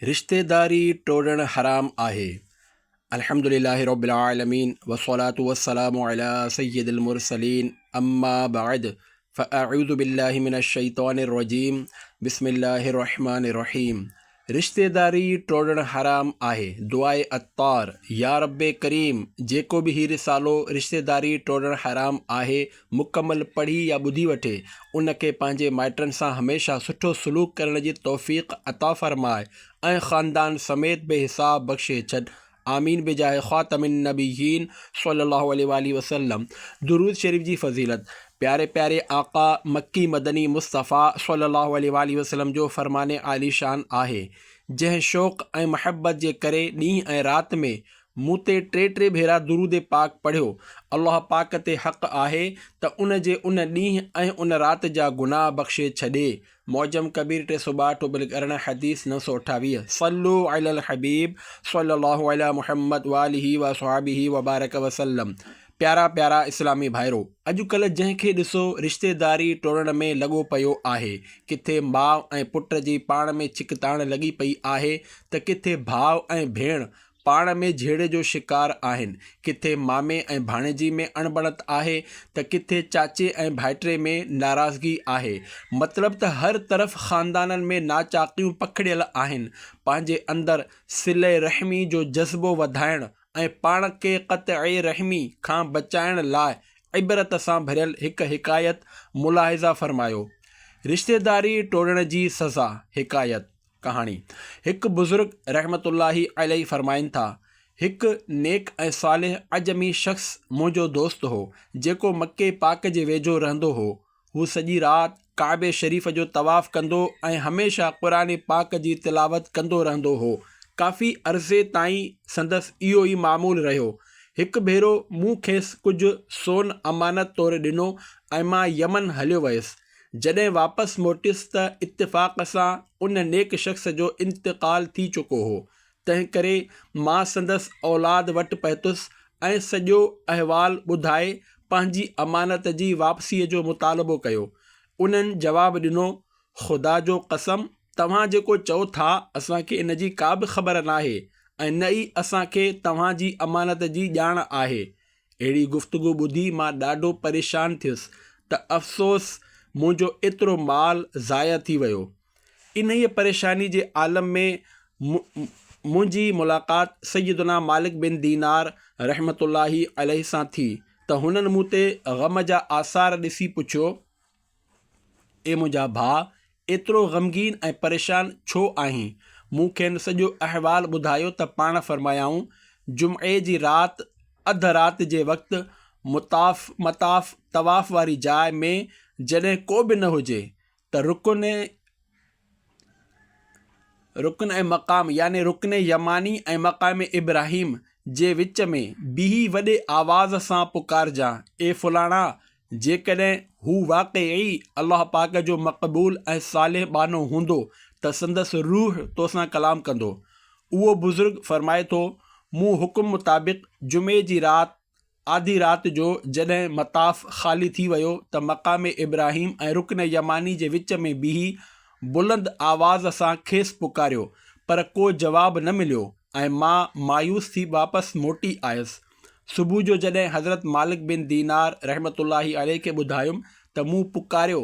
رشتيداري ٽوڙڻ حرام آهي. الحمد لله رب العالمين والصلاة والسلام علي سيد المرسلين اما بعد فاعوذ بالله من الشيطان الرجيم بسم الله الرحمن الرحيم رشتيداري ٽوڙڻ حرام آهي دعاء عطار يا رب ڪريم جيڪو به هي رسالو رشتيداري ٽوڙڻ حرام آهي مڪمل پڙهي يا ٻڌي وٺي، ان کي پنهنجي مائٽن سان هميشه سٺو سلوڪ ڪرڻ جي توفيق عطا فرماء ۽ خاندان سميت بي حساب بخشي ڇڏ آمين بجاء خاتم النبيين صلّي الله عليه واٰله وسلّم درود شريف جي فضيلت پياري پياري آقا مڪي مدني مصطفٰي صلّي الله عليه واٰله وسلّم جو فرمان عاليشان آهي جنهن شوق ۽ محبت جي ڪري ڏينهن ۽ رات ۾ مون تي ٽي ٽي ڀيرا درود پاڪ پڙهيو، الله پاڪ تي حق آهي ته ان جي ان ڏينهن ۽ ان رات جا گناهه بخشي ڇڏي، معجم ڪبير ٽي سؤ ٻاهٺ ٽوبل ارڙهن حديث نو سؤ اٺاويهه، صلو علی الحبيب صلّي الله علی محمّد وآلہ وأصحابه وبارک وسلّم پيارا پيارا اسلامي ڀائرو! اڄ ڪلهه جنهن کي ڏسو رشتيداري ٽوڙڻ ۾ لڳو پيو آهي، ڪٿي ماء ۽ پٽ جي پاڻ ۾ ڇڪتاڻ لڳي پئي آهي ته ڪٿي ڀاء ۽ ڀيڻ پاڻ ۾ جهيڙي جو شڪار آهن. ڪٿي مامي ۽ ڀاڻيجي ۾ اڻبڻت آهي ته ڪٿي چاچي ۽ ڀائٽري ۾ ناراضگي آهي. مطلب ته هر طرف خاندانن ۾ ناچاڪيون پکڙيل آهن. پنهنجي اندر صله رحمي جو جذبو وڌائڻ ۽ پاڻ کي قطعي رحمي کان بچائڻ لاء عبرت سان ڀريل هڪ حڪايت ملاحظه فرمايو، رشتيداري ٽوڙڻ جي سزا، حڪايت. ڪهاڻي، هڪ بزرگ رحمة الله عليه فرمائن ٿا، هڪ نيڪ ۽ صالح عجمي شخص منهنجو دوست هو، جيڪو مڪي پاڪ جي ويجهو رهندو هو. هو سڄي رات ڪعبي شريف جو طواف ڪندو ۽ هميشه قرآن پاڪ جي تلاوت ڪندو رهندو هو. ڪافي عرصي تائين سندس اهو ئي معمول رهيو. هڪ ڀيرو مون کيس ڪجهه سون امانت طور ڏنو ۽ مان يمن هليو ويس. جڏهن واپس موٽيس ته اتفاق سان ان نيڪ شخص جو انتقال ٿي چڪو هو، تنهنڪري مان سندس اولاد وٽ پهتس ۽ سڄو احوال ٻڌائي پنهنجي امانت جي واپسيء جو مطالبو ڪيو. انهن جواب ڏنو، خدا جو قسم توهان جيڪو چئو ٿا اسان کي ان جي ڪابه خبر ناهي ۽ نه ئي اسان کي توهان جي امانت جي ڄاڻ آهي. اهڙي گفتگو ٻڌي مان ڏاڍو پريشان ٿيس ته افسوس منهنجو ايترو مال ضايع ٿي ويو. انهيء پريشاني جي عالم ۾ م منهنجي ملاقات سيدنا مالڪ بن دينار رحمة الله عليه سان ٿي ته هنن مون تي غم جا آثار ڏسي پڇيو، اي منهنجا ڀاء! ايترو غمگين ۽ پريشان ڇو آهين؟ مون کين سڄو احوال ٻڌايو ته پاڻ فرمايائون، جمعي جي رات اڌ رات جي وقت مطاف، مطاف، طواف واري جاء ۾ جڏهن ڪو به نه هجي ته رڪن، رڪن ۽ مقام يعني رڪن يماني ۽ مقام ابراهيم جي وچ ۾ بيهي وڏي آواز سان پڪارجان، اي فلاڻا! جيڪڏهن هو واقعي الله پاڪ جو مقبول ۽ صالح ٻانهو هوندو ته سندس روح تو سان ڪلام ڪندو. اهو بزرگ فرمائي ٿو، مون حڪم مطابق جمعي جي رات، آڌي رات جو جڏهن مطاف خالي ٿي ويو ته مقام ابراهيم ۽ رڪن يماني جي وچ ۾ بيهي بلند آواز سان کيس پڪاريو پر ڪو جواب نه مليو ۽ مان مايوس ٿي واپس موٽي آيس. صبح جو جڏهن حضرت مالڪ بن دينار رحمة الله عليه کي ٻڌايم ته مون پڪاريو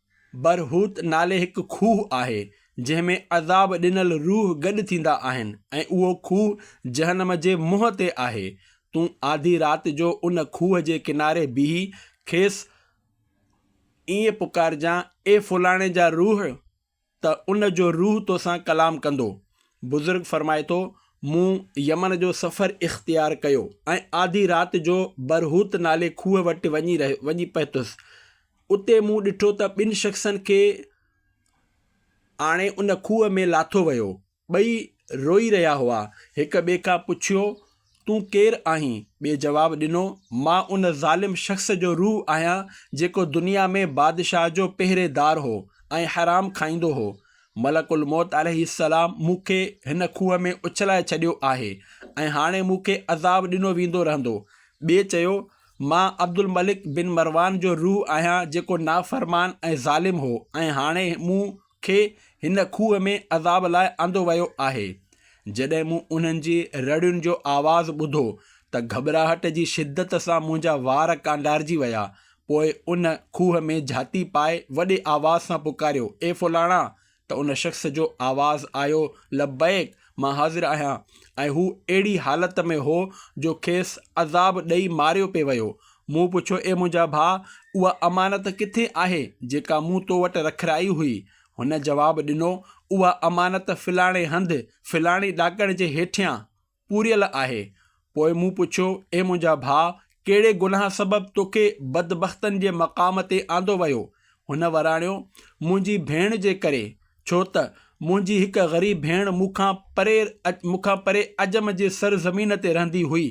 برهوت نالي هڪ کوهه آهي، جنهن ۾ عذاب ڏنل روح گڏ ٿيندا آهن ۽ اهو کوهه جهنم جي منهن تي آهي. تون آڌي رات جو ان کوهه جي ڪناري بيهي کيس ائين پڪارجان، اي فلاڻي جا روح! ته ان جو روح توسان ڪلام ڪندو. بزرگ فرمائي ٿو، مون يمن جو سفر اختيار ڪيو ۽ آڌي رات جو برهوت نالي کوهه وٽ وڃي رهيو وڃي پهتس. اتي مون ڏٺو ته ٻن شخصن کي آڻي ان کوهه ۾ لاٿو ويو. ٻئي روئي رهيا هئا. هڪ ٻئي کان پڇيو، تون ڪير آهين؟ ٻئي جواب ڏنو، مان ان ظالم شخص جو روح آهيان، جيڪو دنيا ۾ بادشاهه جو پهريدار هو ۽ حرام کائيندو هو. ملڪ الموت عليه السلام مون کي هن کوهه ۾ اڇلائي ڇڏيو آهي ۽ هاڻي مون کي عذاب ڏنو ويندو رهندو. ٻئي چيو، مان عبدالملڪ بن مروان جو روح آهيان، جيڪو نافرمان ۽ ظالم هو ۽ هاڻي مون کي هن کوهه ۾ عذاب لاء آندو ويو آهي. جڏهن مون انهن جي رڙين جو آواز ٻڌو ته گهٻراهٽ جي شدت سان منهنجا وار ڪانڊارجي ويا. پوء ان کوهه ۾ جهاتي پائي وڏي آواز سان پڪاريو، اي فلاڻا! ته ان شخص جو آواز آيو، لبيڪ! مان حاضر آهيان. ۽ هو اهڙي حالت ۾ هو جو کيس عذاب ڏئي ماريو پئي ويو. مون پڇيو، اي منهنجا ڀاء! اها امانت ڪٿي آهي، جيڪا مون تو وٽ رکرائي هئي؟ هن جواب ڏنو، اها امانت فلاڻي هنڌ، فلاڻي ڏاڪڻ جي هيٺيان، پوريل آهي. پوء مون پڇيو، اي منهنجا ڀاء! ڪهڙي گناهه سبب توکي بدبختن جي مقام تي آندو ويو؟ هن وراڻيو، منهنجي ڀيڻ جي ڪري، ڇو ته منهنجي هڪ غريب ڀيڻ مون کان پري مون کان پري عجم جي سر زمين تي رهندي هئي.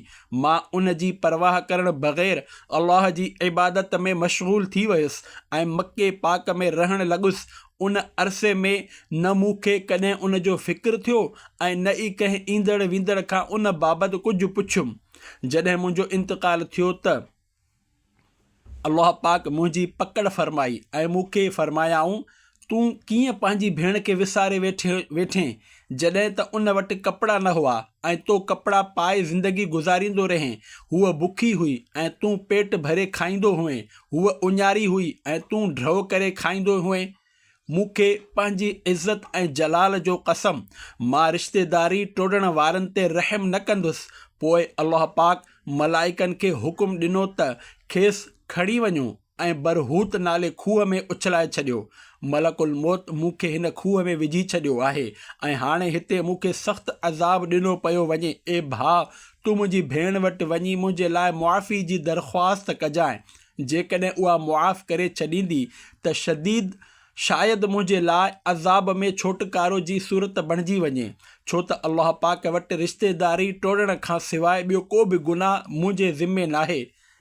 مان ان جي پرواهه ڪرڻ بغير الله جي عبادت ۾ مشغول ٿي ويس ۽ مڪي پاڪ ۾ رهڻ لڳس. ان عرصي ۾ نه مون کي ڪڏهن ان جو فڪر ٿيو ۽ نه ئي ڪنهن ايندڙ ويندڙ کان ان بابت ڪجهه پڇيم. جڏهن منهنجو انتقال ٿيو ته. الله پاڪ منهنجي پڪڙ فرمائي ۽ مون کي فرمايائون، تون ڪيئن پنهنجي ڀيڻ کي وساري ويٺين، جڏهن ته ان وٽ ڪپڙا نه هئا ۽ تو ڪپڙا پائي زندگي گذاريندو رهين، هوء بکي هئي ۽ تون پيٽ ڀري کائيندو هئين، هوء اڃاري هئي ۽ تون ڍؤ ڪري کائيندو هئين. مون کي پنهنجي عزت ۽ جلال جو قسم، مان رشتيداري ٽوڙڻ وارن تي رحم نه ڪندس. پوء الله پاڪ ملائڪن کي حڪم ڏنو ته کيس کڻي وڃو ۽ برهوت نالي کوهه ۾ اڇلائي ڇڏيو. ملڪ الموت مون کي هن کوهه ۾ وجهي ڇڏيو آهي ۽ هاڻي هتي مون کي سخت عذاب ڏنو پيو وڃي. اي ڀاء! تون منهنجي ڀيڻ وٽ وڃي منهنجي لاء معافي جي درخواست ڪجانء جيڪڏهن اها معاف ڪري ڇڏيندي ته شديد شايد منهنجي لاء عذاب ۾ ڇوٽڪارو جي صورت بڻجي وڃي، ڇو ته الله پاڪ وٽ رشتيداري ٽوڙڻ کان سواء ٻيو ڪو به گناهه منهنجي ذمي ناهي.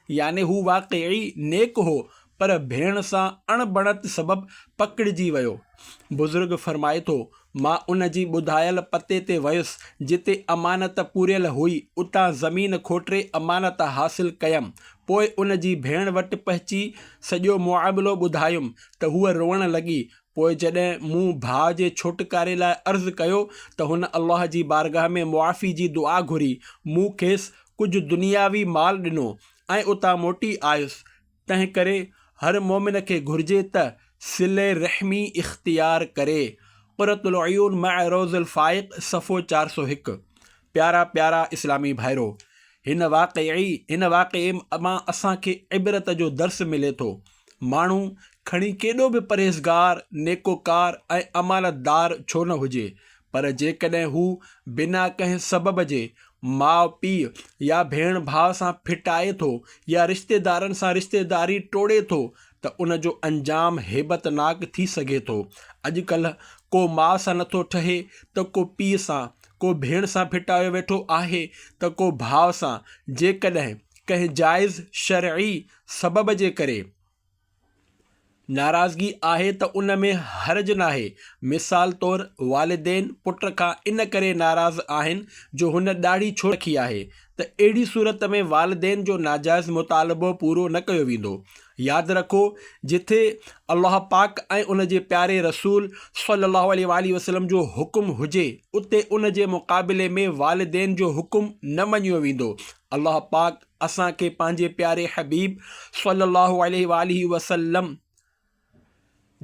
يعني هو واقعي نيڪ هو، پر ڀيڻ سان اڻبڻت سبب پڪڙجي ويو. بزرگ فرمائي ٿو، مان ان جي ٻڌايل پتي تي ويس، جتي امانت پوريل هئي، اتان زمين کوٽري امانت حاصل ڪيم. پوء ان جي ڀيڻ وٽ پهچي سڄو معاملو ٻڌايم ته هوء روئڻ لڳي. پوء جڏهن مون ڀاء جي ڇوٽڪاري لاء عرض ڪيو ته هن الله جي بارگاهه ۾ معافي جي دعا گهري. مون کيس ڪجهه دنياوي مال ڏنو ۽ اتان موٽي آيس ته تنهن ڪري هر مؤمن کي گهرجي ته صلي رحمي اختيار ڪري. قرة العيون مع روض الفائق صفحو چار سؤ هڪ پيارا پيارا اسلامي ڀائرو! هن واقعي هن واقعي مان اسان کي عبرت جو درس ملي ٿو. ماڻهو کڻي ڪيڏو به پرهيزگار، نيڪوڪار ۽ امانتدار ڇو نه هجي پر جيڪڏهن هو بنا ڪنهن سبب جي ماء پيء يا ڀيڻ ڀاء سان ڦٽائي ٿو يا رشتيدارن سان رشتيداري ٽوڙي ٿو ته ان جو انجام هيبتناڪ ٿي سگهي ٿو. اڄڪلهه ڪو ماء سان نٿو ٺهي ته ڪو پيء سان، ڪو ڀيڻ سان ڦٽايو ويٺو آهي ته ڪو ڀاء سان، جيڪڏهن ڪنهن جائز شرعي سبب جي ڪري، ناراضگي آهي ته ان ۾ حرج ناهي. مثال طور والدين پٽ کان ان ڪري ناراض آهن جو هن ڏاڙهي ڇو رکي آهي ته اهڙي صورت ۾ والدين جو ناجائز مطالبو پورو نه ڪيو ويندو. ياد رکو جٿي الله پاڪ ۽ ان جي پياري رسول صلي الله عليه واٰله وسلم جو حڪم هجي اتي ان جي مقابلي ۾ والدين جو حڪم نه مڃيو ويندو الله پاڪ اسان کي پنهنجي پياري حبيب صلّي اللّٰه عليه واٰله وسلّم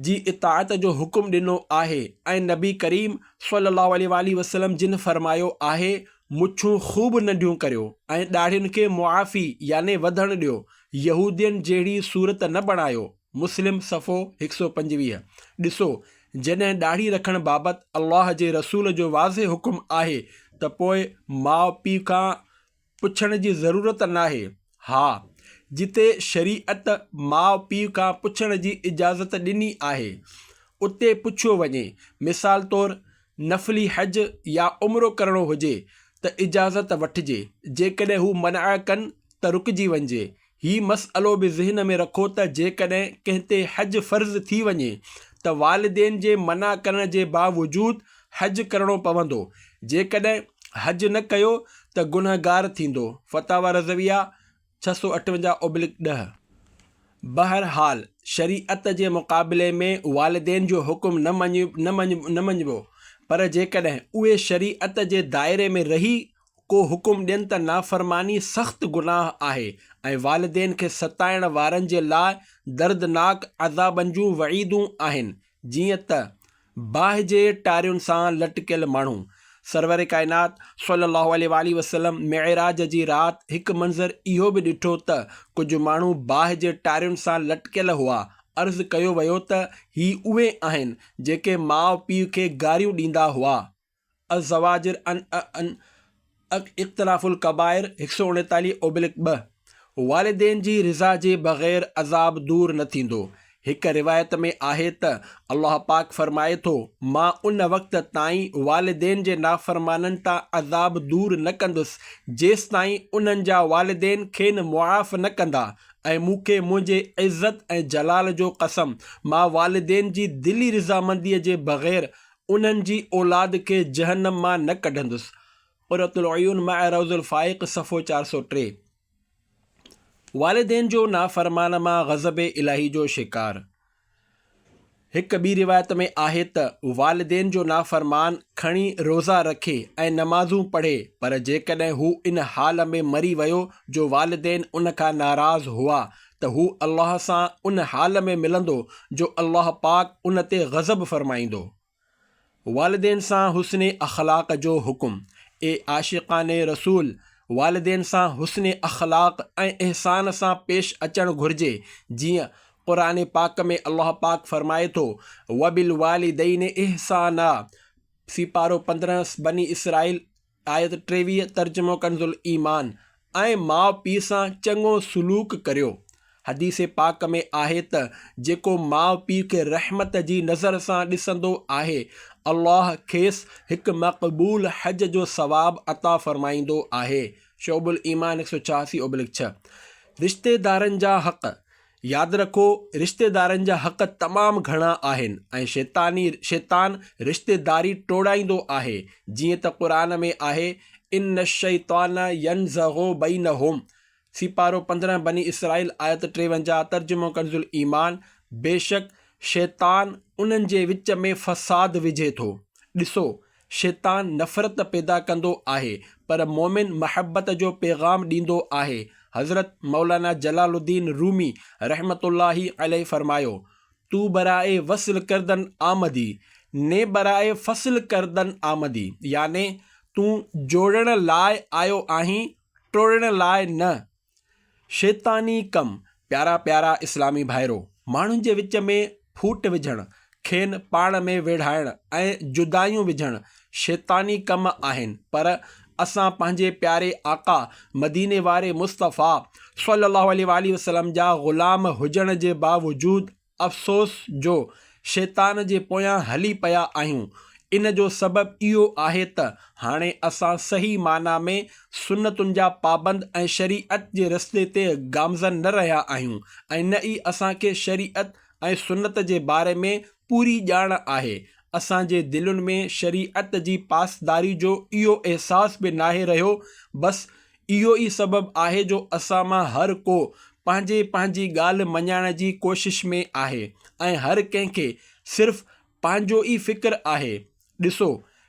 جي اطاعت جو حڪم ڏنو آهي ۽ نبي ڪريم صلّي اللّٰه عليه واٰله وسلّم جن فرمايو آهي، مڇون خوب ننڍيون ڪريو ۽ ڏاڙهين کي معافي يعني وڌڻ ڏيو، يهودين جهڙي صورت نه بڻايو، مسلم صفحو هڪ سؤ پنجويهه، ڏسو جڏهن ڏاڙهي رکڻ بابت الله جي رسول جو واضح حڪم آهي ته پوء ماء پيء کان پڇڻ جي ضرورت ناهي. ها، جتي شريعت ماء پيء کان پڇڻ جي اجازت ڏني آهي، اتي پڇيو وڃي. مثال طور، نفلي حج يا عمرو ڪرڻو هجي ته اجازت وٺجي، جيڪڏهن هو منع ڪن ته رڪجي وڃجي، هي مسئلو به ذهن ۾ رکو ته جيڪڏهن ڪنهن تي حج فرض ٿي وڃي ته والدين جي منع ڪرڻ جي باوجود حج ڪرڻو پوندو، جيڪڏهن حج نه ڪيو ته گنهگار ٿيندو، فتاويٰ رضويه، ڇهه سؤ اٺونجاهه اوبلڪ ڏهه. بهرحال شريعت جي مقابلي ۾ والدين جو حڪم نه مڃبو، پر جيڪڏهن اهي شريعت جي دائري ۾ رهي ڪو حڪم ڏين ته نافرماني سخت گناهه آهي ۽ والدين کي ستائڻ وارن جي لاء دردناڪ عذابن جون وعيدون آهن جيئن ته باهه جي ٽارين سان لٽڪيل ماڻهو. سرور ڪائنات صلّي اللّٰه عليه واٰله وسلّم معراج جي رات هڪ منظر اهو به ڏٺو ته ڪجهه ماڻهو باهه جي ٽارين سان لٽڪيل هئا، عرض ڪيو ويو ته هي اهي آهن جيڪي ماء پيء کي گاريون ڏيندا هئا. الزواجر عن عن اقتراف الڪبائر هڪ سؤ اڻيتاليهه اوبلڪ ٻه والدين جي رضا جي بغير عذاب دور نه ٿيندو هڪ روايت ۾ آهي ته الله پاڪ فرمائي ٿو مان ان وقت تائين والدين جي نافرمانن تان عذاب دور نه ڪندس جيستائين انهن جا والدين کين معاف نه ڪندا ۽ مون کي منهنجي عزت ۽ جلال جو قسم مان والدين جي دلي رضامندي جي بغير انهن جي اولاد کي جهنم مان نه ڪڍندس، قرة العيون مع روض الفائق صفحو چار سؤ ٽي. والدين جو نافرمان مان غضب الاهي جو شڪار. هڪ ٻي روايت ۾ آهي ته والدين جو نافرمان کڻي روزا رکي ۽ نمازون پڙهي پر جيڪڏهن هو ان حال ۾ مري ويو جو والدين ان کان ناراض هئا ته هو الله سان ان حال ۾ ملندو جو الله پاڪ ان تي غضب فرمائيندو. والدين سان حسن اخلاق جو حڪم، اي عاشقان رسول! والدين سان حسن اخلاق ۽ احسان سان پيش اچڻ گهرجي، جيئن قرآن پاڪ ۾ الله پاڪ فرمائي ٿو، وبالوالدين احسانا، سيپارو پندرهن، بني اسرائيل، آيت ٽيويهه ترجمو ڪنز الايمان، ۽ ماء پيء سان چڱو سلوڪ ڪريو. حديث پاڪ ۾ آهي ته جيڪو ماء پيء کي رحمت جي نظر سان ڏسندو آهي، الله کيس هڪ مقبول حج جو ثواب عطا فرمائيندو آهي، شعب الايمان هڪ سؤ ڇهاسي اوبلڪ ڇهه. رشتيدارن جا حق، ياد رکو رشتيدارن جا حق تمام گهڻا آهن ۽ شيطاني، شيطان، رشتيداري ٽوڙائيندو آهي جيئن ته قرآن ۾ آهي، ان الشيطان ينزغ بينهم، سيپارو پندرهن بني اسرائيل آيت ٽيونجاهه ترجمو ڪنزالايمان، بيشڪ شيطان انهن جي وچ ۾ فساد وجهي ٿو. ڏسو! شيطان نفرت پيدا ڪندو آهي پر مؤمن محبت جو پيغام ڏيندو آهي حضرت مولانا جلال الدين رومي رحمة الله عليه فرمايو، تو برائے وصل کردن آمدي، ني برائے فصل کردن آمدي يعني تون جوڙڻ لاء آيو آهين ٽوڙڻ لاء نه. شيطاني ڪم، پيارا پيارا اسلامي ڀائرو! ماڻهن جي وچ ۾ ڦوٽ وجهڻ، کين پاڻ ۾ ويڙهائڻ ۽ جدايون وجهڻ شيطاني ڪم آهن پر اسان پنهنجي پياري آقا مديني واري مصطفٰي صلّي اللّٰه عليه واٰله وسلّم جا غلام هجڻ جي باوجود افسوس جو شيطان جي پويان هلي پيا آهيون. ان جو سبب اهو آهي ته هاڻي اسان صحيح معنيٰ ۾ سنتن جا پابند ۽ شريعت جي رستي تي گامزن نه رهيا آهيون ۽ نه ئي اسان کي شريعت ۽ سنت جي باري ۾ پوري ڄاڻ آهي. اسان جي دلين ۾ شريعت جي پاسداري جو اهو احساس به ناهي رهيو بس اهو ئي سبب آهي جو اسان مان هر ڪو پنهنجي پنهنجي ڳالهه مڃائڻ جي ڪوشش ۾ آهي ۽ هر ڪنهن کي صرف پنهنجو ئي فڪر آهي. ڏسو،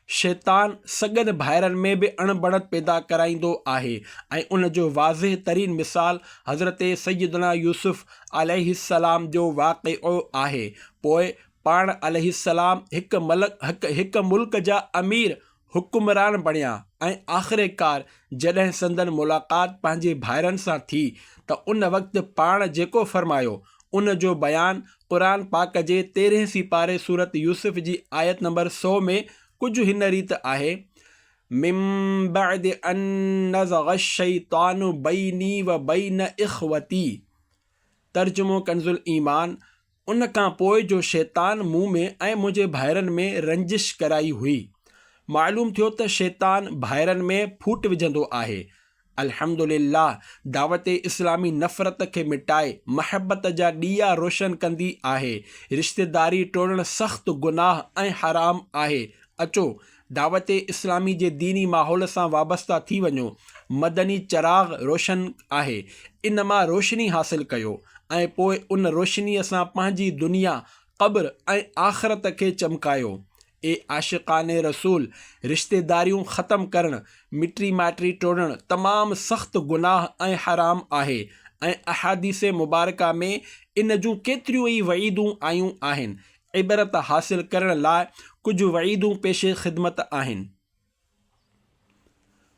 شيطان سڳن ڀائرن ۾ به اڻ بڻت پيدا ڪرائيندو آهي ۽ ان جو واضح ترين مثال حضرت سيدنا يوسف عليه السلام جو واقعو آهي. پوء پاڻ عليه السلام هڪ هڪ ملڪ جا امير حڪمران بڻيا ۽ آخرڪار جڏهن سندن ملاقات پنهنجي ڀائرن سان ٿي ته ان وقت پاڻ جيڪو فرمايو ان جو بيان قرآن پاڪ جي تيرهين سيپاري سورة يوسف جي آيت نمبر سؤ ۾ ڪجهه هن ريت آهي، من بعد ان نزغ الشيطان بيني وبين اخوتي، ترجمو ڪنزالايمان، ان کان پوء جو شيطان مون ۾ ۽ منهنجي ڀائرن ۾ رنجش ڪرائي هئي. معلوم ٿيو ته شيطان ڀائرن ۾ ڦوٽ وجهندو آهي. الحمد لله دعوت اسلامي نفرت کي مٽائي محبت جا ڏيئا روشن ڪندي آهي. رشتيداري ٽوڙڻ سخت گناهه ۽ حرام آهي. اچو دعوت اسلامي جي ديني ماحول سان وابسته ٿي وڃو، مدني چراغ روشن آهي، ان مان روشني حاصل ڪيو ۽ پوء ان روشنيء سان پنهنجي دنيا، قبر ۽ آخرت کي چمڪايو. اي عاشقان رسول! رشتيداريون ختم ڪرڻ، مٽي مائٽي ٽوڙڻ تمام سخت گناهه ۽ حرام آهي ۽ احاديث مبارڪه ۾ ان جون ڪيتريون ئي وعيدون آيون آهن. عبرت حاصل ڪرڻ لاء ڪجهه وعيدون پيش خدمت آهن.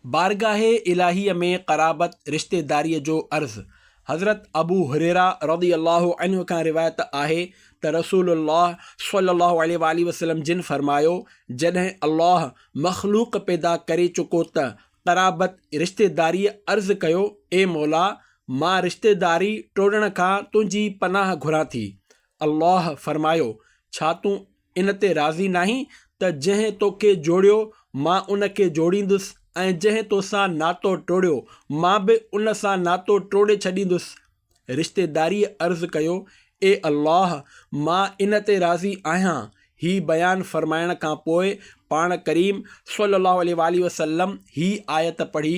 بارگاهه الاهيء ۾ قرابت، رشتيداريء جو عرض، حضرت ابو هريره رضي الله عنه کان روايت آهي ته رسول الله صلي الله عليه واٰله وسلم جن فرمايو، جڏهن الله مخلوق پيدا ڪري چڪو ته قرابت، رشتيداريء، عرض ڪيو، اي مولا! مان رشتيداري ٽوڙڻ کان تنهنجي پناهه گهران ٿي. الله فرمايو، ڇا تون ان تي راضي ناهين ته جنهن توکي جوڙيو، مان ان کي جوڙيندس ۽ جنهن توسان ناتو ٽوڙيو، مان به ان سان ناتو ٽوڙي ڇڏيندس. رشتيداريء عرض ڪيو، اي الله! مان ان تي راضي آهيان. هي بيان فرمائڻ کان پوء پاڻ ڪريم صلّي اللّٰه عليه واٰله وسلّم هي آيت پڙهي،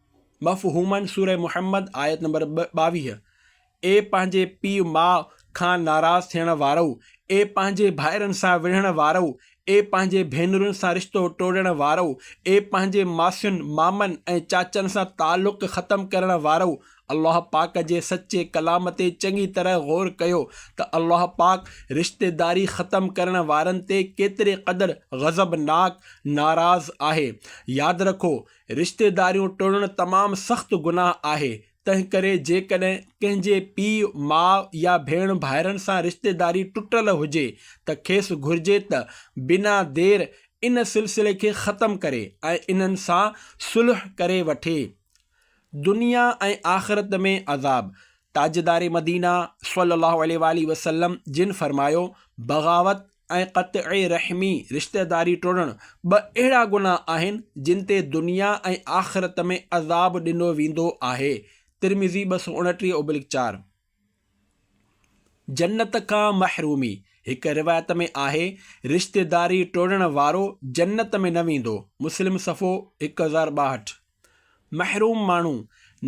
مفهومن سورة محمد آيت نمبر ٻاويهه، اي پنهنجي پيء ماء کان ناراض ٿيڻ وارؤ، اي پنهنجي ڀائرن سان وڙهڻ وارؤ، اي پنهنجي ڀينرن سان رشتو ٽوڙڻ وارؤ، اي پنهنجي ماسين، مامن ۽ چاچن سان تعلق ختم ڪرڻ وارؤ، الله پاڪ جي سچي ڪلام تي چڱي طرح غور ڪيو ته الله پاڪ رشتيداري ختم ڪرڻ وارن تي ڪيتري قدر غضبناڪ، ناراض، آهي. ياد رکو رشتيداريون ٽوڙڻ تمام سخت گناهه آهي، تنهنڪري جيڪڏهن ڪنهن جي پيء، ماء يا ڀيڻ ڀائرن سان رشتيداري ٽٽل هجي ته کيس گهرجي ته بنا دير ان سلسلي کي ختم ڪري ۽ انهن سان صلح ڪري وٺي. دنيا ۽ آخرت ۾ عذاب، تاجدار مدينه صلّي اللّٰه عليه واٰله وسلّم جن فرمايو، بغاوت، ۽ قطع رحمي، رشتيداري ٽوڙڻ، ٻه اهڙا گناهه آهن جن تي دنيا ۽ آخرت ۾ عذاب ڏنو ويندو آهي، ترمذي ٻه سؤ اڻٽيهه اوبلڪ چار. جنت کان محرومي، هڪ روايت ۾ آهي، رشتيداري ٽوڙڻ وارو جنت ۾ نه ويندو، مسلم صفحو هڪ هزار ٻاهٺ. محروم ماڻهو،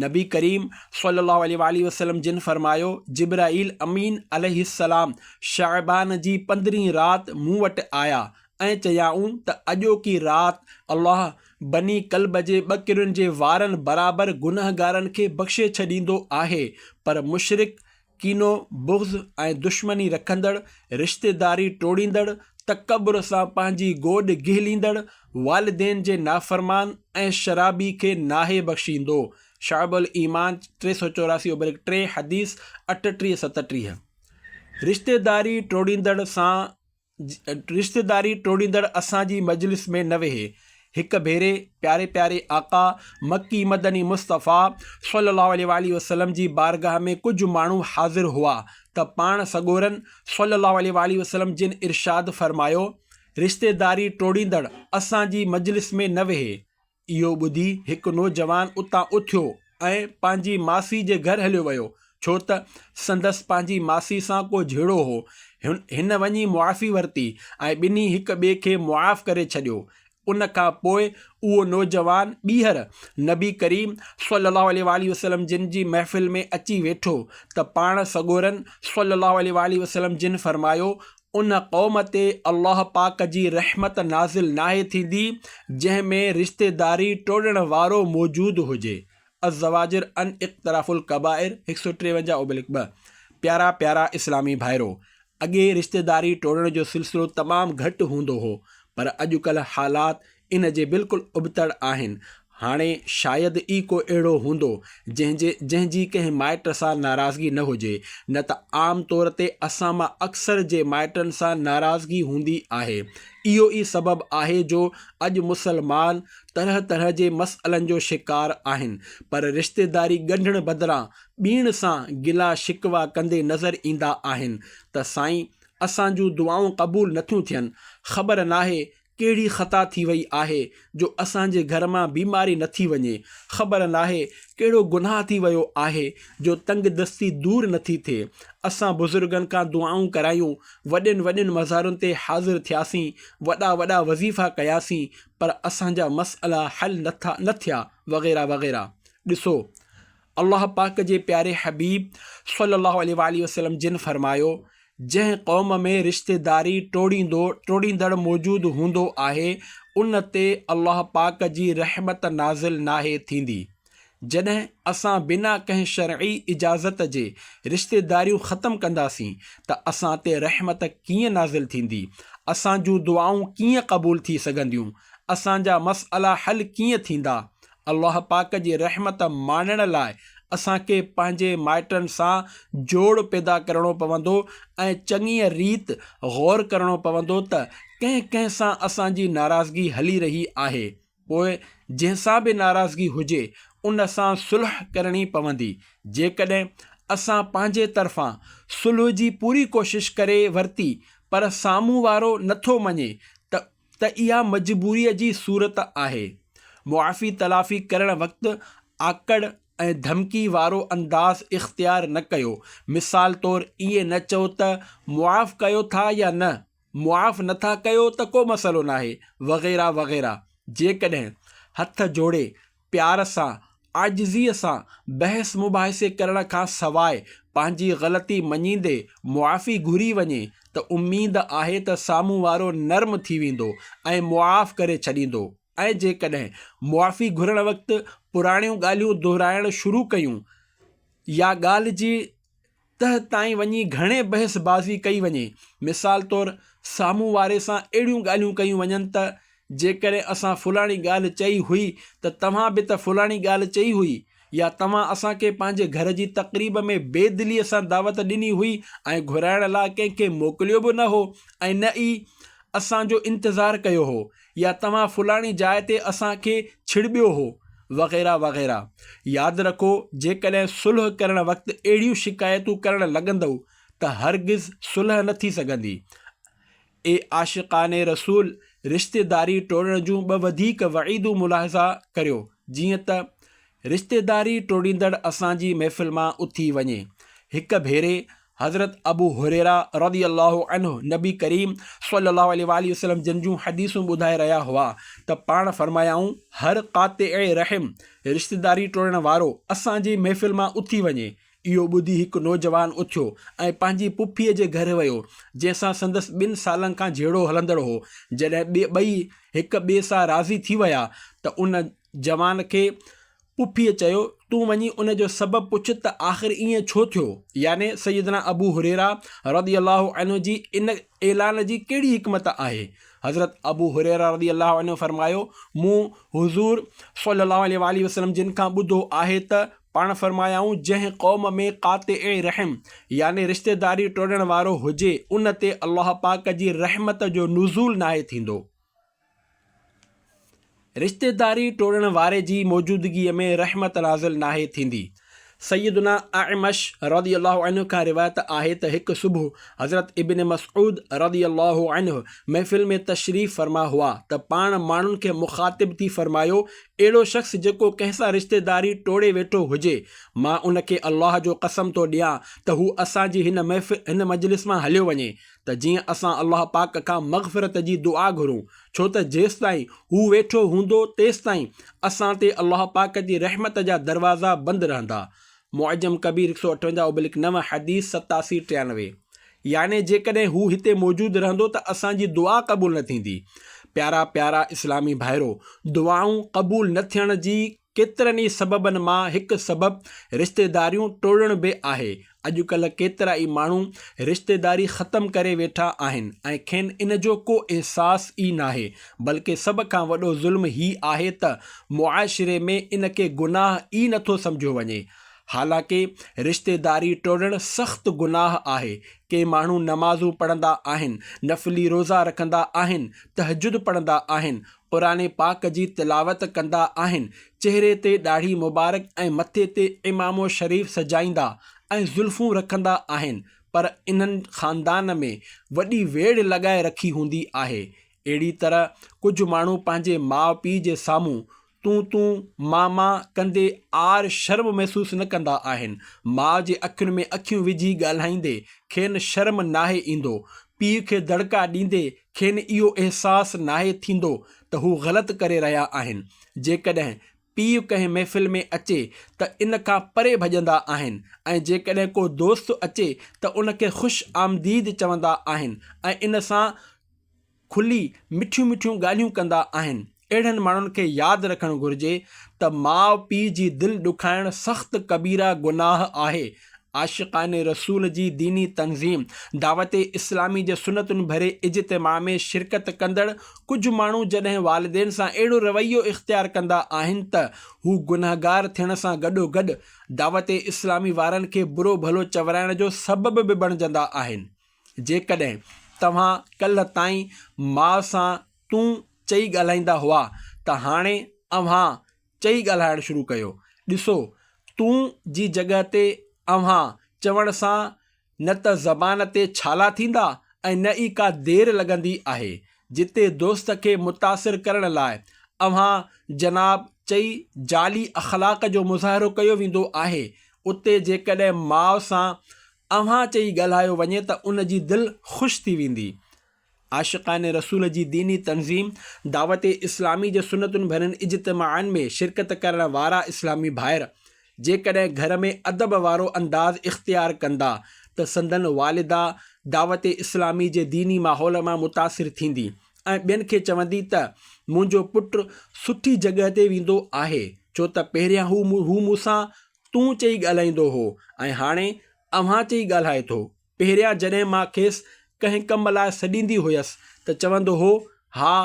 نبي ڪريم صلي الله عليه واٰله وسلم جن فرمايو، جبرائيل امين عليه السلام شعبان جي پندرهين رات مون وٽ آيا ۽ چيائون ته اڄوڪي رات الله بني ڪلب جي ٻه ڪرين جي وارن برابر گنهگارن کي بخشي ڇڏيندو آهي پر مشرڪ ڪينو، بغض ۽ دشمني رکندڙ، رشتيداري ٽوڙيندڙ، تڪبر سان پنهنجي گوڏ گهليندڙ، والدين جي نافرمان ۽ شرابي کي ناهي بخشيندو، شعب الايمان، ٽي سؤ چوراسي اوبرڪ ٽي، حديث اٺٽيهه، ستٽيهه، رشتيداري ٽوڙيندڙ سان رشتيداري ٽوڙيندڙ اسان جي مجلس ۾ نه ويهي. هڪ ڀيري پياري پياري آقا مڪي مدني مصطفيٰ صلّي اللّٰه عليه واٰله وسلّم جي بارگاھ ۾ ڪجھ ماڻهو حاضر هئا ته پاڻ سڳورن صلّي اللّٰه عليه واٰله وسلّم جن ارشاد فرمايو، رشتيداري ٽوڙيندڙ اسان جي مجلس ۾ نه ويهي. اهو ٻڌي هڪ نوجوان اتان اٿيو ۽ پنهنجي ماسي جي گهر هليو ويو، ڇو ته سندس پنهنجي ماسي سان ڪو جهيڙو هو. هن وڃي معافي ورتي ۽ ٻنهي هڪ ٻئي کي معاف ڪري ڇڏيو. ان کان پوء اهو نوجوان ٻيهر نبي ڪريم صلّي اللّٰه عليه واٰله وسلّم جن جي محفل ۾ اچي ويٺو ته پاڻ سڳورن صلّي اللّٰه عليه واٰله وسلّم جن فرمايو، ان قوم تي الله پاڪ جي رحمت نازل ناهي ٿيندي جنهن ۾ رشتيداري ٽوڙڻ وارو موجود هجي الزواجر عن اقتراف الڪبائر هڪ سؤ ٽيونجاهه اوبلڪ ٻه پيارا پيارا اسلامي ڀائرو! اڳي رشتيداري ٽوڙڻ جو سلسلو تمام گهٽ هوندو هو پر اڄڪلهه حالات ان جي بلڪل ابتڙ آهن. هاڻي شايد ئي ڪو اهڙو هوندو، جنهن جي جنهن جي ڪنهن مائٽ سان ناراضگي نه هجي، نه ته عام طور تي اسان مان اڪثر جي مائٽن سان ناراضگي هوندي آهي. اهو ئي سبب آهي جو اڄ مسلمان طرح طرح جي مسئلن جو شڪار آهن، پر رشتيداري ڳنڍڻ بدران ٻين سان گلا شڪوا ڪندي نظر ايندا آهن ته سائين اسان جون دعائون قبول نٿيون ٿين، خبر ناهي ڪهڙي خطا ٿي وئي آهي جو اسان جي گهر مان بيماري نه ٿي وڃي، خبر ناهي ڪهڙو گناهه ٿي ويو آهي جو تنگ دستي دور نه ٿي ٿئي. اسان بزرگن کان دعائون ڪرايون، وڏين وڏين مزارن تي حاضر ٿياسين، وڏا وڏا وظيفا ڪياسين پر اسان جا مسئلا حل نه ٿا نه ٿيا وغيره وغيره. ڏسو الله پاڪ جي پياري حبيب صلّي الله عليه واٰله وسلّم جن فرمايو، جنهن قوم ۾ رشتيداري ٽوڙيندو، ٽوڙيندڙ، موجود هوندو آهي، ان تي الله پاڪ جي رحمت نازل ناهي ٿيندي. جڏهن اسان بنا ڪنهن شرعي اجازت جي رشتيداريون ختم ڪنداسين ته اسان تي رحمت ڪيئن نازل ٿيندي؟ اسان جون دعائون ڪيئن قبول ٿي سگهنديون؟ اسان جا مسئلا حل ڪيئن ٿيندا؟ الله پاڪ جي رحمت ماڻڻ لاء اسان کي پنهنجي مائٽن سان جوڙ پيدا ڪرڻو پوندو ۽ چڱيء ريت غور ڪرڻو پوندو ته ڪنهن ڪنهن سان اسان جي ناراضگي هلي رهي آهي. پوء جنهن سان به ناراضگي هجي ان سان صلح ڪرڻي پوندي. جيڪڏهن اسان پنهنجي طرفان صلح جي پوري ڪوشش ڪري ورتي پر سامهون وارو نٿو مڃي ته ته اها مجبوريء جي صورت آهي. معافي تلافي ڪرڻ وقت آڪڙ ۽ ڌمڪي وارو انداز اختيار نه ڪيو. مثال طور ائين نه چئو ته معاف ڪيو ٿا يا نه، معاف نٿا ڪيو ته ڪو مسئلو ناهي وغيره وغيره. جيڪڏهن هٿ جوڙي پيار سان، عاجزيء سان بحث مباحثي ڪرڻ کان سواء پنهنجي غلطي مڃيندي معافي گهري وڃي ته اميد آهي ته سامهون وارو نرم ٿي ويندو ۽ معاف ڪري ڇڏيندو ۽ جيڪڏهن معافي گهرڻ وقت پراڻيون ڳالهيون دهرائڻ شروع ڪيون يا ڳالهه جي تهه تائين وڃي گهڻي بحث بازي ڪئي وڃي. مثال طور سامهون واري سان اهڙيون ڳالهيون ڪيون وڃن ته جيڪڏهن اسان فلاڻي ڳالهه چئي هئي ته توهان به ته فلاڻي ڳالهه چئي هئي يا توهان اسان کي پنهنجي گهر جي تقريب ۾ بي دليء سان دعوت ڏني هئي ۽ گهرائڻ لاء ڪنهن کي موڪليو به نه هو ۽ نه ئي اسان جو انتظار ڪيو هو. يا توهان فلاڻي جاء تي اسان کي ڇڙٻيو هو وغيره وغيره ياد رکو جيڪڏهن صلح ڪرڻ وقت اهڙيون شڪايتون ڪرڻ لڳندؤ ته هرگز صلح نه ٿي سگهندي اي عاشقان رسول رشتيداري ٽوڙڻ جون ٻه وڌيڪ وعيدون ملاحظه ڪريو جيئن ته رشتيداري ٽوڙيندڙ اسان جي محفل مان اٿي وڃي هڪ ڀيري حضرت ابو هريره رضي الله عنه نبي ڪريم صلي الله عليه واٰله وسلم جن جون حديثون ٻڌائي رهيا هئا ته پاڻ فرمايائون هر قاطع رحم، رشتيداري ٽوڙڻ وارو، اسان جي محفل مان اٿي وڃي. اهو ٻڌي هڪ نوجوان اٿيو ۽ پنهنجي پڦيء جي گهر ويو، جنهن سان سندس ٻن سالن کان جهيڙو هلندڙ هو. جڏهن ٻئي هڪ ٻئي سان راضي ٿي ويا ته ان جوان کي پڦيء چيو، تون وڃي ان جو سبب پڇ ته آخر ائين ڇو ٿيو؟ يعني سيدنا ابو هريره رضي الله عنه جي ان اعلان جي ڪهڙي حڪمت آهي؟ حضرت ابو هريره رضي الله عنه فرمايو، مون حضور صلّي اللّٰه عليه واٰله وسلّم جن کان ٻڌو آهي ته پاڻ فرمايائون، جنهن قوم ۾ قاطع رحم يعني رشتيداري ٽوڙڻ وارو هجي، ان تي الله پاڪ جي رحمت جو نزول ناهي ٿيندو. رشتيداري ٽوڙڻ واري جي موجودگيء ۾ رحمت نازل ناهي ٿيندي. سيدنا اعمش رضي الله عنه کان روايت آهي ته هڪ صبح حضرت ابن مسعود رضي الله عنه محفل ۾ تشريف فرما هئا ته پاڻ ماڻهن کي مخاطب ٿي فرمايو، اهڙو شخص جيڪو ڪنهن سان رشتيداري ٽوڙي ويٺو هجي، مان ان کي الله جو قسم ٿو ڏيان ته هو اسان جي هن مجلس مان هليو وڃي. ته جيئن اسان الله پاڪ کان مغفرت جي دعا گهرون، ڇو ته جيستائين هو ويٺو هوندو تيستائين اسان تي الله پاڪ جي رحمت جا دروازا بند رهندا، معجم ڪبير هڪ سؤ اٺونجاهه ابلڪ نو، حديث ستاسي ٽيانوي، يعني جيڪڏهن هو هتي موجود رهندو ته اسان جي دعا قبول نه ٿيندي، پيارا پيارا اسلامي ڀائرو! دعائون قبول نه ٿيڻ جي ڪيترن ئي سببن مان هڪ سبب رشتيداريون ٽوڙڻ به آهي. اڄڪلهه ڪيترا ئي ماڻهو رشتيداري ختم ڪري ويٺا آهن ۽ کين ان جو ڪو احساس ئي ناهي. بلڪه سڀ کان وڏو ظلم هي آهي ته معاشري ۾ ان کي گناهه ئي نٿو سمجهيو وڃي. حالانڪه رشتيداري ٽوڙڻ سخت گناهه آهي. ڪي ماڻهو نمازون پڙهندا آهن، نفلي روزا رکندا آهن، تهجد پڙهندا آهن، قرآن پاڪ جي تلاوت ڪندا آهن، چهري تي ڏاڙهي مبارڪ ۽ مٿي تي عمامو شريف سجائيندا ۽ زلفون رکندا آهن، پر انهن خاندان ۾ وڏي ويڙهه لڳائي رکي هوندي آهي. اهڙي طرح ڪجهه ماڻهو پنهنجي ماء پيء جي سامهون تون تون ماء ماء ڪندي عار شرم محسوس نه ڪندا آهن، ماء جي اکين ۾ اکيون وجهي ڳالهائيندي کين شرم ناهي ايندو، پيء کي دڙڪا ڏيندي کين اهو احساس ناهي ٿيندو ته هو غلط ڪري رهيا آهن. جيڪڏهن پيء ڪنهن محفل ۾ اچي ته ان کان پري ڀڄندا آهن ۽ جيڪڏهن ڪو دوست اچي ته ان کي خوش آمديد چوندا آهن ۽ ان سان کلي مٺيون مٺيون ڳالهيون ڪندا آهن. اهڙن ماڻهن کي ياد رکڻ گهرجي ته ماء پيء جي دل ڏکائڻ سخت ڪبيره گناهه آهي. عاشقان رسول جي ديني تنظيم دعوت اسلامي جي سنتن ڀري اجتماع ۾ شرڪت ڪندڙ ڪجهه ماڻهو جڏهن والدين سان اهڙو رويو اختيار ڪندا آهن ته هو گنهگار ٿيڻ سان گڏوگڏ دعوت اسلامي وارن کي برو ڀلو چورائڻ جو سبب به بڻجندا آهن. جيڪڏهن توهان ڪلهه تائين ماء سان تون چئي ڳالهائيندا هئا ته هاڻي اوهان چئي ڳالهائڻ شروع ڪيو. ڏسو، تون جي جڳهه تي اوهان چوڻ سان نه ته زبان تي ڇالا ٿيندا ۽ نه ئي ڪا دير لڳندي آهي. جتي دوست کي متاثر ڪرڻ لاء اوهان جناب چئي جعلي اخلاق جو مظاهرو ڪيو ويندو آهي، اتي جيڪڏهن ماء سان اوهان چئي ڳالهايو وڃي ته ان جي دل خوش ٿي ويندي. عاشقان رسول جي ديني تنظيم دعوت اسلامي جي سنتن ڀرين اجتماعن ۾ شرڪت ڪرڻ وارا اسلامي ڀائر جيڪڏهن گهر ۾ ادب وارو انداز اختيار ڪندا ته سندن والده دعوت اسلامي جي ديني ماحول مان متاثر ٿيندي ۽ ٻين کي چوندي ته منهنجو پٽ سٺي جڳهه تي ويندو آهي ڇو ته پهريان هو مون سان تون چئي ڳالهائيندو هو ۽ هاڻي اوهان چئي ڳالهائي ٿو. پهريان جڏهن مان کيس ڪنهن ڪم لاء سڏيندي هيس ته چوندو هو، ها،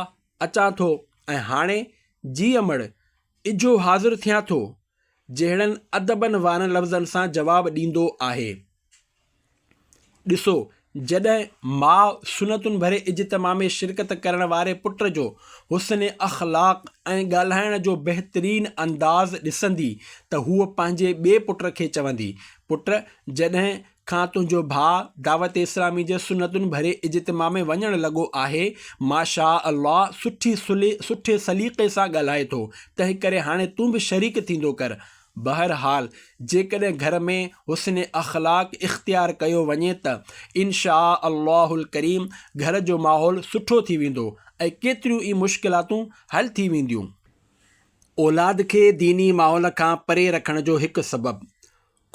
اچان ٿو ۽ هاڻي، جي امڙ، اجهو حاضر ٿيان ٿو، جهڙن ادبن وارن لفظن سان جواب ڏيندو آهي. ڏسو، جڏهن ماء سنتون ڀري اجتماع ۾ شرڪت ڪرڻ واري پٽ جو حسن اخلاق ۽ ڳالهائڻ جو بهترين انداز ڏسندي ته هوء پنهنجي ٻئي پٽ کي چوندي، پٽ، جڏهن کان تنهنجو ڀاء دعوت اسلامي جي سنتن ڀري اجتماع ۾ وڃڻ لڳو آهي ماشاء الله سٺي سلي سٺي سليقي سان ڳالهائي ٿو تنهن ڪري هاڻي تون به شريڪ ٿيندو ڪر بهر حال جيڪڏهن گهر ۾ حسن اخلاق اختيار ڪيو وڃي ته ان شاء الله الڪريم گهر جو ماحول سٺو ٿي ويندو ۽ ڪيتريون ئي مشڪلاتون حل ٿي وينديون. اولاد کي ديني ماحول کان پري رکڻ جو هڪ سبب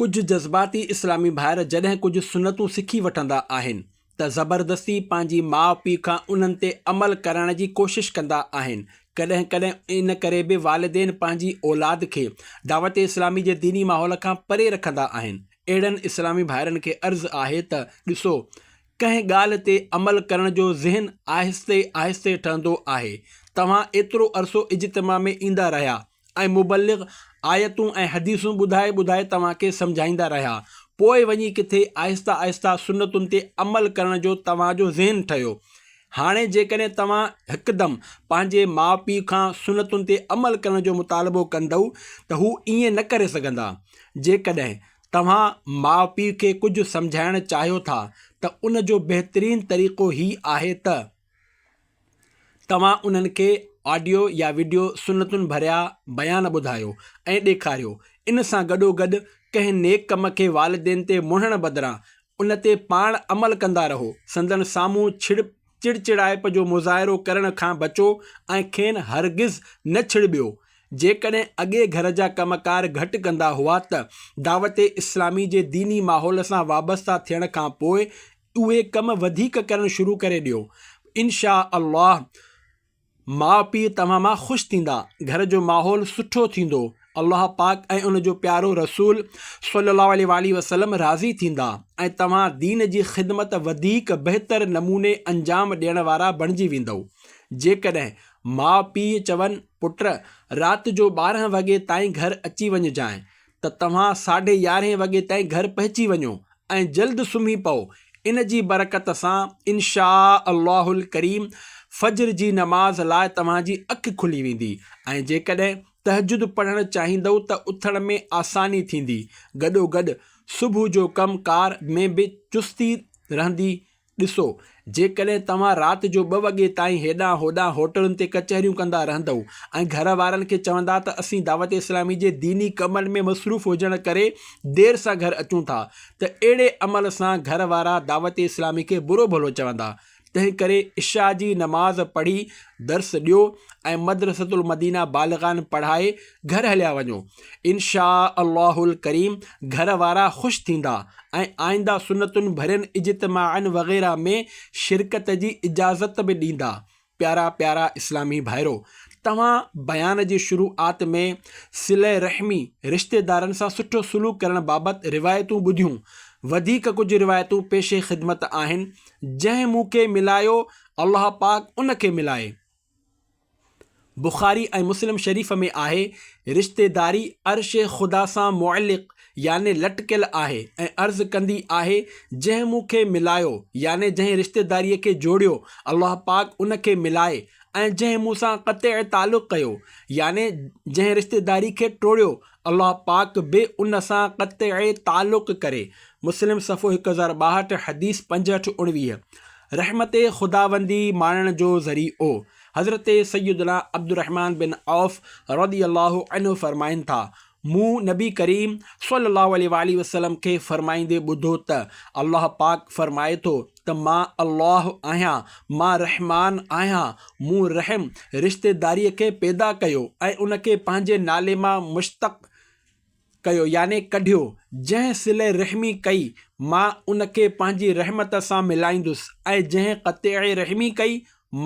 ڪجهه جذباتي اسلامي ڀائر جڏهن ڪجهه سنتون سکي وٺندا آهن ته زبردستي پنهنجي ماء پيء کان انهن تي عمل ڪرائڻ جي ڪوشش ڪندا آهن. ڪڏهن ڪڏهن ان ڪري به والدين پنهنجي اولاد کي دعوت اسلامي جي ديني ماحول کان پري رکندا آهن. اهڙن اسلامي ڀائرن کي عرض آهي ته ڏسو ڪنهن ڳالهه تي عمل ڪرڻ جو ذهن آهستي آهستي ٺهندو آهي. توهان ايترو عرصو اجتماع ۾ ايندا رهيا ۽ مبلغ آيتون ۽ حديثون ٻڌائي ٻڌائي توهان کي سمجهائيندا رهيا، پوء وڃي ڪٿي آهسته آهسته سنتن تي عمل ڪرڻ جو توهان جو ذهن ٺهيو. هاڻي جيڪڏهن توهان هڪدم پنهنجي ماء پيء کان سنتن تي عمل ڪرڻ جو مطالبو ڪندؤ ته هو ائين نه ڪري سگهندا. جيڪڏهن توهان ماء پيء کي ڪجهه سمجهائڻ چاهيو ٿا ته ان جو بهترين طريقو هي آهي ته. توهان انهن کي آڊيو يا وڊيو سنتن ڀريا بيان ٻڌايو ۽ ڏيکاريو. ان سان گڏوگڏ ڪنهن نيڪ ڪم کي والدين تي مڙهڻ بدران ان تي پاڻ عمل ڪندا رهو. سندن سامهون ڇڙ چڙچڙائپ جو مظاهرو ڪرڻ کان بچو ۽ کين هرگز نه ڇڙٻيو. جيڪڏهن اڳي گهر جا ڪم ڪار گهٽ ڪندا هئا ته دعوت اسلامي جي ديني ماحول سان وابسته ٿيڻ کان پوء اهي ڪم وڌيڪ ڪرڻ شروع ڪري ڏيو انشاء الله ماء پيء توهان مان خوش ٿيندا گهر جو ماحول سٺو ٿيندو الله پاڪ ۽ ان جو پيارو رسول صلي الله عليه وآله وسلم راضي ٿيندا ۽ توهان دين جي خدمت وڌيڪ بهتر نموني انجام ڏيڻ وارا بڻجي ويندؤ جيڪڏهن ماء پيء چون پٽ رات جو ٻارهن وڳي تائين گهر اچي وڃجانء ته توهان ساڍي يارهين وڳي تائين گهر پهچي وڃو ۽ جلد سمهي پئو، ان جي برڪت سان ان شاء الله الڪريم فجر جي نماز لاء توهان جي اک کلي ويندي ۽ جيڪڏهن تهجد پڙهڻ چاهيندؤ ته اٿڻ ۾ آساني ٿيندي، گڏوگڏ صبح جو ڪم ڪار ۾ به چستي رهندي. ڏسو، جيڪڏهن توهان رات جو ٻه وڳي تائين هيڏانهن هوڏانهن هوٽلن تي ڪچهريون ڪندا رهندؤ ۽ گهر وارن کي چوندا ته اسين دعوت اسلامي جي ديني ڪمن ۾ مصروف هجڻ ڪري دير سان گهر اچون ٿا ته اهڙي عمل سان گهر وارا دعوت اسلامي کي برو ڀلو چوندا تنهنڪري عشاء جي نماز پڙهي درس ڏيو ۽ مدرسة المدينه بالغان پڙهائي گهر هليا وڃو. انشاء الله الڪريم گهر وارا خوش ٿيندا ۽ آئنده سنتن ڀرين اجتماعن وغيره ۾ شرڪت جي اجازت به ڏيندا پيارا پيارا اسلامي ڀائرو توهان بيان جي شروعات ۾ صله رحمي رشتيدارن سان سٺو سلوڪ ڪرڻ بابت روايتون ٻڌيون وڌيڪ ڪجهه روايتون پيش خدمت آهن جنهن مون کي ملايو الله پاڪ ان کي ملائي بخاري ۽ مسلم شريف ۾ آهي، رشتيداري عرش خدا سان معلق يعني لٽڪيل آهي ۽ عرض ڪندي آهي، جنهن مون کي ملايو يعني جنهن رشتيداريء کي جوڙيو، الله پاڪ ان کي ملائي ۽ جنهن مون سان قطع تعلق ڪيو يعني جنهن رشتيداري کي ٽوڙيو، الله پاڪ به ان سان قطع تعلق ڪري. مسلم صفحو هڪ هزار ٻاهٺ، حديث پنجهٺ، اڻويهه. رحمت خداوندي ماڻڻ جو ذريعو حضرت سيدنا عبدالرحمان بن عوف رضي الله عنه فرمائن ٿا، مون نبي ڪريم صلي الله عليه واٰله وسلم کي فرمائيندي ٻڌو ته الله پاڪ فرمائي ٿو ته مان الله آهيان، مان رحمان آهيان، مون رحم، رشتيداريء، کي پيدا ڪيو ۽ ان کي پنهنجي نالي مان مشتق ڪيو يعني ڪڍيو، جنهن صلي رحمي ڪئي، مان ان کي پنهنجي رحمت سان ملائيندس ۽ جنهن قطع رحمي ڪئي،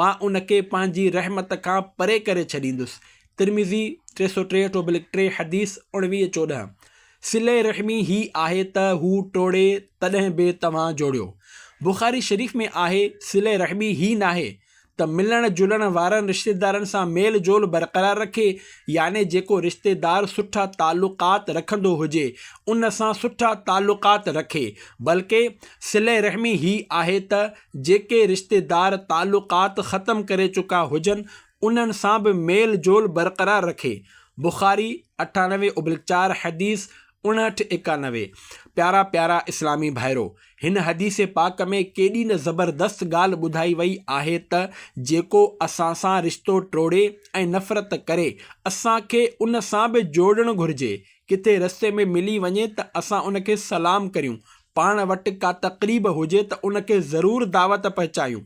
مان ان کي پنهنجي رحمت کان پري ڪري ڇڏيندس، ترمذي، ٽي سؤ ٽيهٺ اوبلڪ ٽي، حديث اڻويهه چوڏهن، صلي رحمي هي آهي ته هو ٽوڙي تڏهن به توهان جوڙيو. بخاري شريف ۾ آهي، صلي رحمي هي ناهي ته ملڻ جلڻ وارن رشتيدارن سان ميل جول برقرار رکي يعني جيڪو رشتيدار سٺا تعلقات رکندو هجي ان سان سٺا تعلقات رکي بلڪه صله رحمي هي آهي ته جيڪي رشتيدار تعلقات ختم ڪري چڪا هجن انهن سان به ميل جول برقرار رکي بخاري اٺانوي اوبلڪ چار حديث اڻهٺ ايڪانوي پيارا پيارا اسلامي ڀائرو! هن حديث پاڪ ۾ ڪيڏي نه زبردست ڳالهه ٻڌائي وئي آهي ته جيڪو اسان سان رشتو ٽوڙي ۽ نفرت ڪري اسان کي ان سان به جوڙڻ گهرجي. ڪٿي رستي ۾ ملي وڃي ته اسان ان کي سلام ڪريون، پاڻ وٽ ڪا تقريب هجي ته ان کي ضرور دعوت پهچايون،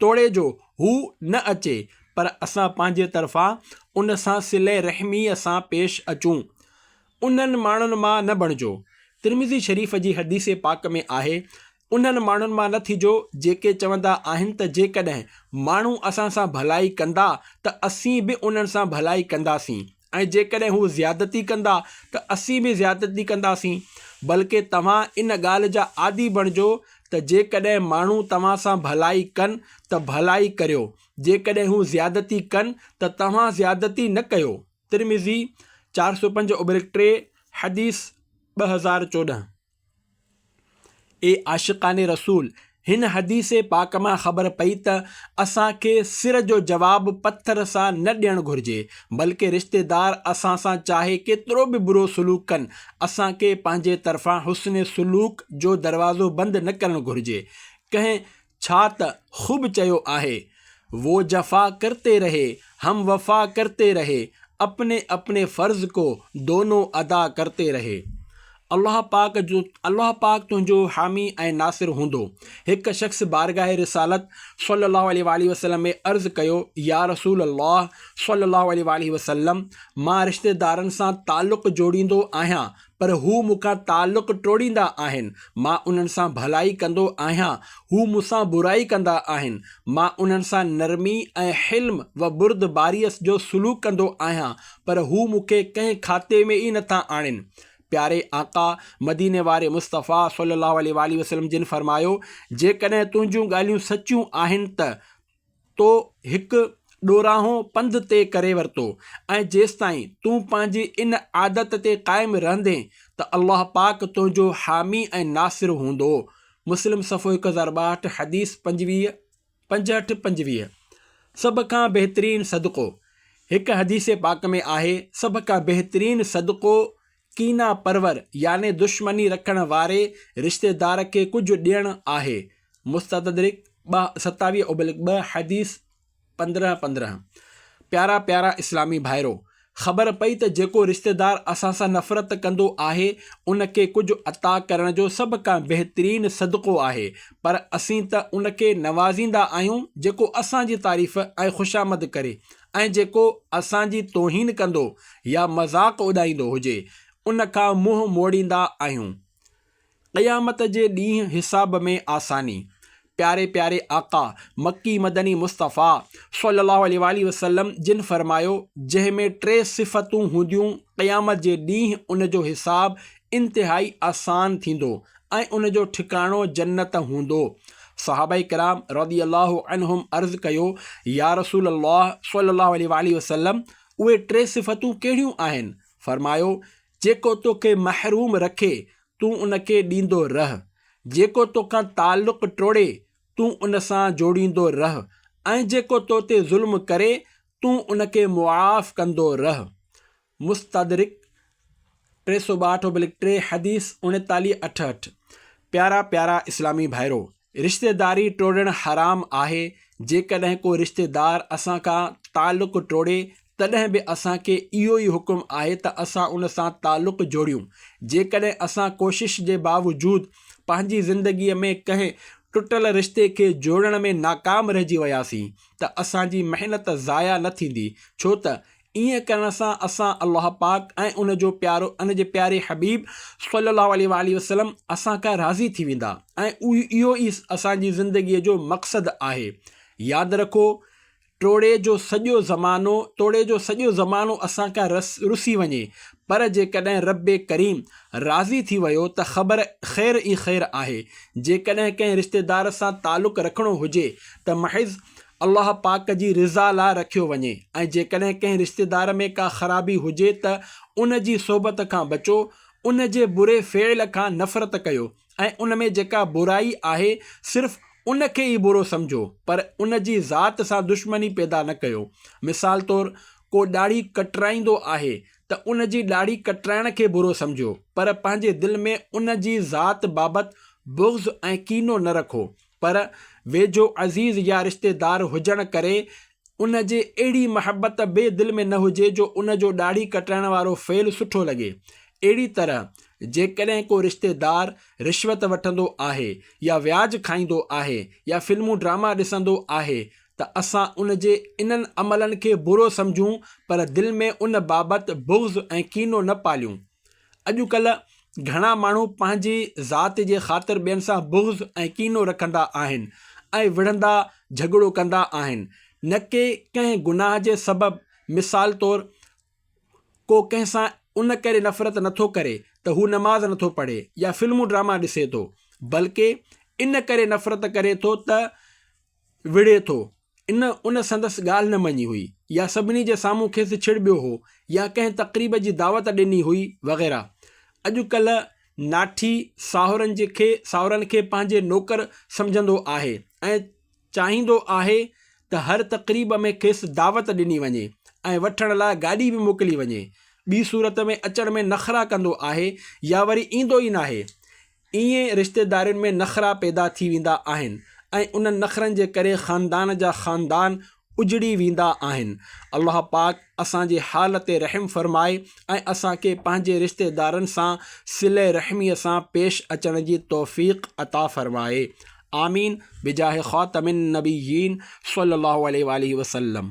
توڙي جو هو نه اچي پر اسان پنهنجي طرفان ان سان صله رحميء سان پيش اچون. انهن ماڻهن مان نه بڻجو. ترمذي شريف جي حديث پاڪ ۾ آهي، انهن ماڻهن مان نه ٿجو جيڪي چوندا آهن ته جيڪڏهن ماڻهو اسان سان ڀلائي ڪندا ته اسين به انهن سان ڀلائي ڪنداسين. ۽ جيڪڏهن هو زيادتي ڪندا ته اسين به زيادتي ڪنداسين بلڪه توهان ان ڳالهه جا عادي بڻجو ته جيڪڏهن ماڻهو توهان سان ڀلائي ڪن ته ڀلائي ڪريو جيڪڏهن هو زيادتي ڪن ته توهان زيادتي نه ڪيو ترمذي چار سؤ پنج اوبرڪ ٽي حديث ٻه هزار چوڏهن اي عاشقان رسول! هن حديث پاڪ مان خبر پئي ته اسان کي سر جو جواب پٿر سان نه ڏيڻ گهرجي، بلڪه رشتيدار اسان سان چاهي ڪيترو به برو سلوڪ ڪن، اسان کي پنهنجي طرفان حسن سلوڪ جو دروازو بند نه ڪرڻ گهرجي. ڪنهن ڇا ته خوب چيو آهي، وو جفا ڪرتي رهي، هم وفا ڪرتي رهي، اپني اپني فرض ڪو دونو ادا ڪرتي رهي. الله پاڪ جو الله پاڪ تنهنجو حامي ۽ ناصر هوندو. هڪ شخص بارگاهه رسالت صلّي الله عليه واٰله وسلّم ۾ عرض ڪيو، يا رسول الله صلّي الله عليه واٰله وسلّم! مان رشتيدارن سان تعلق جوڙيندو آهيان پر هو مون کان تعلق ٽوڙيندا آهن، مان انهن سان ڀلائي ڪندو آهيان، هو مون سان برائي ڪندا آهن، مان انهن سان نرمي ۽ حلم و بردباريء جو سلوڪ ڪندو آهيان، پر هو مون کي ڪنهن کاتي ۾ ئي نٿا آڻين. پياري آقا مديني واري مصطفيٰ صلّي اللّٰه عليه واٰله وسلّم جن فرمايو، جيڪڏهن تنهنجون ڳالهيون سچيون آهن ته تو هڪ ڏورانهو پنڌ طئي ڪري ورتو ۽ جيستائين تون پنهنجي ان عادت تي قائم رهندين ته الله پاڪ تنهنجو حامي ۽ ناصر هوندو. مسلم صفحو هڪ هزار ٻاهٺ حديث پنجويهه، پنجهٺ، پنجويهه، سڀ کان بهترين صدقو، هڪ حديث پاڪ ۾ آهي، سڀ کان بهترين صدقو ڪينا پرور يعني دشمني رکڻ واري رشتيدار کي ڪجهه ڏيڻ آهي، مستدرڪ ٻه، ستاويهه ابلڪ ٻه حديث پندرهن پندرهن، پيارا پيارا اسلامي ڀائرو! خبر پئي ته جيڪو رشتيدار اسان سان نفرت ڪندو آهي ان کي ڪجهه عطا ڪرڻ جو سڀ کان بهترين صدقو آهي پر اسين ته ان کي نوازيندا آهيون جيڪو اسان جي تعريف ۽ خوشامد ڪري ۽ جيڪو اسان جي توهين ڪندو يا مذاق اڏائيندو هجي ان کان منهن موڙيندا آهيون. قيامت جي ڏينهن حساب ۾ آساني. پياري پياري آقا مڪي مدني مصطفيٰ صلّي اللّٰه عليه واٰله وسلّم جن فرمايو، جنهن ۾ ٽي صفتون هونديون قيامت جي ڏينهن ان جو حساب انتهائي آسان ٿيندو ۽ ان جو ٺڪاڻو جنت هوندو. صحابه ڪرام رضي الله عنهم عرض ڪيو، يا رسول الله صلي الله عليه واٰله وسلم اهي ٽي صفتون ڪهڙيون آهن؟ فرمايو، جيڪو توکي محروم رکي، تون ان کي ڏيندو رهه، جيڪو توکان تعلق ٽوڙي، تون ان سان جوڙيندو رهه ۽ جيڪو تو تي ظلم ڪري، تون ان کي معاف ڪندو رهه. مستدرڪ ٽي سؤ ٻاهٺ اوبلڪ ٽي حديث اڻيتاليهه اٺهٺ، پيارا پيارا اسلامي ڀائرو! رشتيداري ٽوڙڻ حرام آهي، جيڪڏهن ڪو رشتيدار اسان کان تعلق ٽوڙي تڏهن به اسان کي اهو ئي حڪم آهي ته اسان ان سان تعلق جوڙيون، جيڪڏهن اسان ڪوشش جي باوجود پنهنجي زندگي ۾ ڪنهن ٽٽل رشتي کي جوڙڻ ۾ ناڪام رهجي وياسين ته اسان جي محنت ضايع نه ٿيندي ڇو ته ائين ڪرڻ سان اسان الله پاڪ ۽ ان جو پيارو ان جي پياري حبيب صلّي الله عليه واٰله وسلّم اسان کان راضي ٿي ويندا ۽ اهو ئي اسان جي زندگيء جو مقصد آهي. ياد رکو ٽوڙي جو سڄو زمانو توڙي جو سڄو زمانو اسان کان رسي وڃي پر جيڪڏهن ربّ ڪريم راضي ٿي ويو ته خبر خير ئي خير آهي. جيڪڏهن ڪنهن رشتيدار سان تعلق رکڻو هجي ته محض الله پاڪ جي رضا لاء رکيو وڃي ۽ جيڪڏهن ڪنهن رشتيدار ۾ ڪا خرابي هجي ته ان جي صحبت کان بچو، ان جي بري فعل کان نفرت ڪيو ۽ ان ۾ جيڪا برائي آهي صرف ان کي ئي برو سمجهو پر ان جي ذات سان دشمني پيدا نه ڪيو. مثال طور ڪو ڏاڙهي ڪٽرائيندو آهي ته ان جي ڏاڙهي ڪٽرائڻ کي برو سمجهو پر پنهنجي دل ۾ ان جي ذات بابت بغض ۽ ڪينو نه رکو پر ويجهو عزيز يا رشتيدار هجڻ ڪري ان جي اهڙي محبت به دل ۾ نه هجي جو ان جو ڏاڙهي ڪٽرائڻ وارو فعل سٺو لڳي. اهڙي طرح جيڪڏهن ڪو رشتيدار رشوت وٺندو آهي يا وياج کائيندو آهي يا فلمون ڊراما ڏسندو آهي ته اسان ان جي انهن عملن کي برو سمجهون پر دل ۾ ان بابت بغض ۽ ڪينو نه پاليون. اڄ ڪلهه گهڻا ماڻهو پنهنجي ذات جي خاطر ٻين سان بغض ۽ ڪينو رکندا آهن ۽ وڙهندا جهڳڙو ڪندا آهن نه ڪي ڪنهن گناهه جي سبب مثال طور ڪو ڪنهن سان ان ڪري نفرت نه ٿو ڪري ته هو نماز نه ٿو پڙهي يا فلمون ڊراما ڏسي ٿو بلڪه ان ڪري نفرت ڪري ٿو ته وڙهي ٿو ان ان سندس ڳالهه نه مڃي هئي يا سڀني جي سامهون کيس ڇڙٻيو هو يا ڪنهن تقريب جي دعوت ڏني هئي وغيره. اڄ ڪلهه ناٺي ساهرن جي کي ساهرن کي پنهنجي نوڪر سمجهندو آهي ۽ چاهيندو آهي ته هر تقريب ۾ کيس دعوت ڏني وڃي ۽ وٺڻ لاء گاڏي به موڪلي وڃي. ٻي صورت ۾ اچڻ ۾ نخرا ڪندو آهي يا وري ايندو ئي ناهي. ائين رشتيدارين ۾ نخرا پيدا ٿي ويندا آهن ۽ انهن نخرن جي ڪري خاندان جا خاندان اجڙي ويندا آهن. الله پاڪ اسان جي حال تي رحم فرمائي ۽ اسان کي پنهنجي رشتيدارن سان صله رحميء سان پيش اچڻ جي توفيق عطا فرمائي. آمين بجاھ خاتم النبيين صلّي الله عليه واٰله وسلّم.